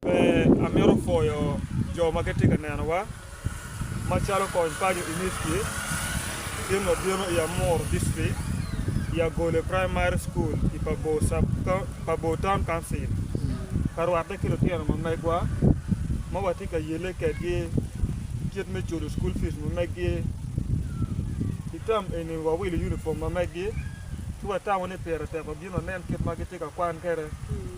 Pe amito pwoyo jo ma gitye ka nenowa, macalo kony paco Inicki, gin ma bino i Amur District, i Agole Primary School i Pabor Town Council, ka rwatte ki lutino ma megwa ma watye ka yelle kwedgi kit me culo school fees ma meggi. I tam eni wawilo unifom ma meggi, ci watamo ni pire tek wabin wanen kit ma gitye ka kwan kwede.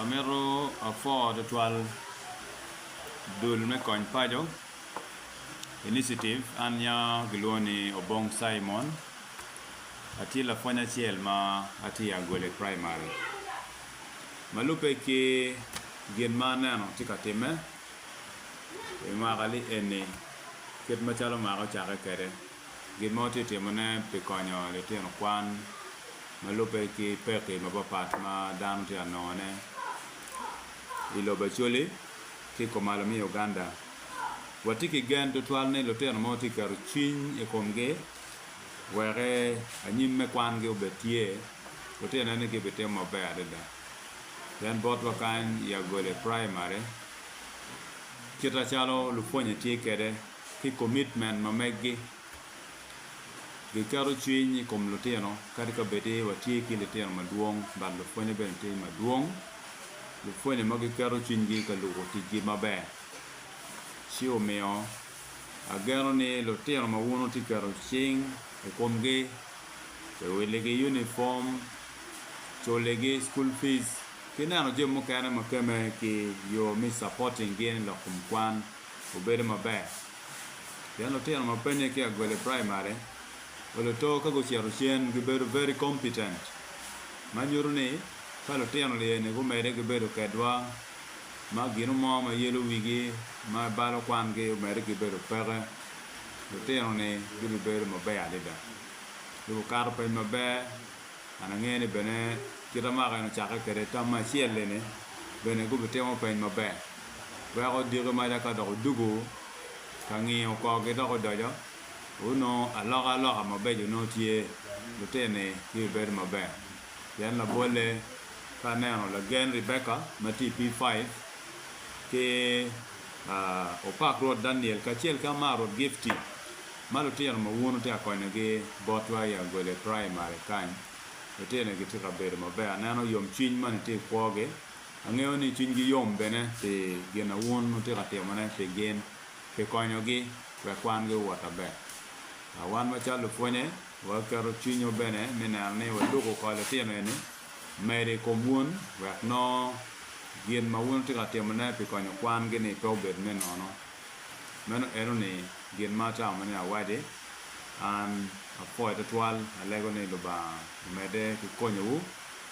Amito apor twatwal dul me kony paco iniciative an nya gilwongo ni Obong Cimon atye lapwony acel ma atye i Agole Primary ma lubbe ki gin ma aneno tye ka timme i mwaka ni eni kit macalo mwaka ocake kwede. Gin ma watye ka timone pi konyo litino kwan ma lubbe ki pekki mapatpat ma dano tye ka nongone i lobo Acholi ki i komalo me Uganda, watye ki gen tutwal ni lutino ma watye ka keto cwiny i komgi wek anyim me kwangi obed tye, lutino eni gibitimo maber adada. Pien botwa kany i Agole Praimari, kite calo lupwonye tye kwede, ki komitmen ma meggi. Giketo cwiny i kom lutino kadi ka bed ni watye ki litino madwong but lupwonye bene tye madwong. Lupwonye ma giketo cwinygi ka lubo ticgi maber ci omiyo ageno ni lutino ma wun wutye ka keto cing i komgi pi wiligi unifom, culigi school fees ki neno jami mukene ma kemme ki yo me supporting-gi lok kom kwan. obedo maber pien lutino ma pud peya gugolo i primary wa luto ka gucito cen gibedo very competent ma nyuto ni ka lutino lye ni gumedde gibedo kedwa ma gino mo ma yelo wigi ma balo kwangi omedde ki bedo peke lutino ni gibibedo maber adada gibikato pwony maber. An angeyo ni bene kit amaka en ocakke kwede tam me acel-li-ni bene gubitimo peny maber. Weko diki maca ka dok odugo ka ngiyo korgi dok odoco, onongo aloka aloka mabeco nongo tye, lutini gibibedo maber. Pien labolle, ka aneno lagen Rebecca ma tye i P-five, ki Opak Rwot Daniel kacel ki Amar Rwot Gifty, Ma lutino ma wun wutye ka konyogi botwa i Agole Praimari kany, lutinoni gitye ka bedo maber. Aneno yomcwiny ma nitye i kwogi. Angeyo ni cwinygi yom bene pi gin ma wun wutye ka timone pi gin, pi konyogi wek kwangi owot maber. Wan macalo lupwonye, waketo cwinywa bene me neno ni waluk oko litino eni medo i kom wun wek nongo gin ma wun wutye ka timone pi konyo kwangi-ni pe obed me nono. Meno eno ni gin ma atamo mene awadi. An apoyo twatwal alego ni Lubanga omede ki konyo wu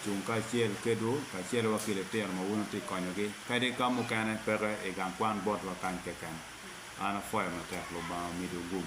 cung kacel kedwu kacelo wa ki litino ma wun wutye konyo gi kadi ka mukene peke igang kwan bot wa kany keken. An apoyo matek Lubanga omidu gum.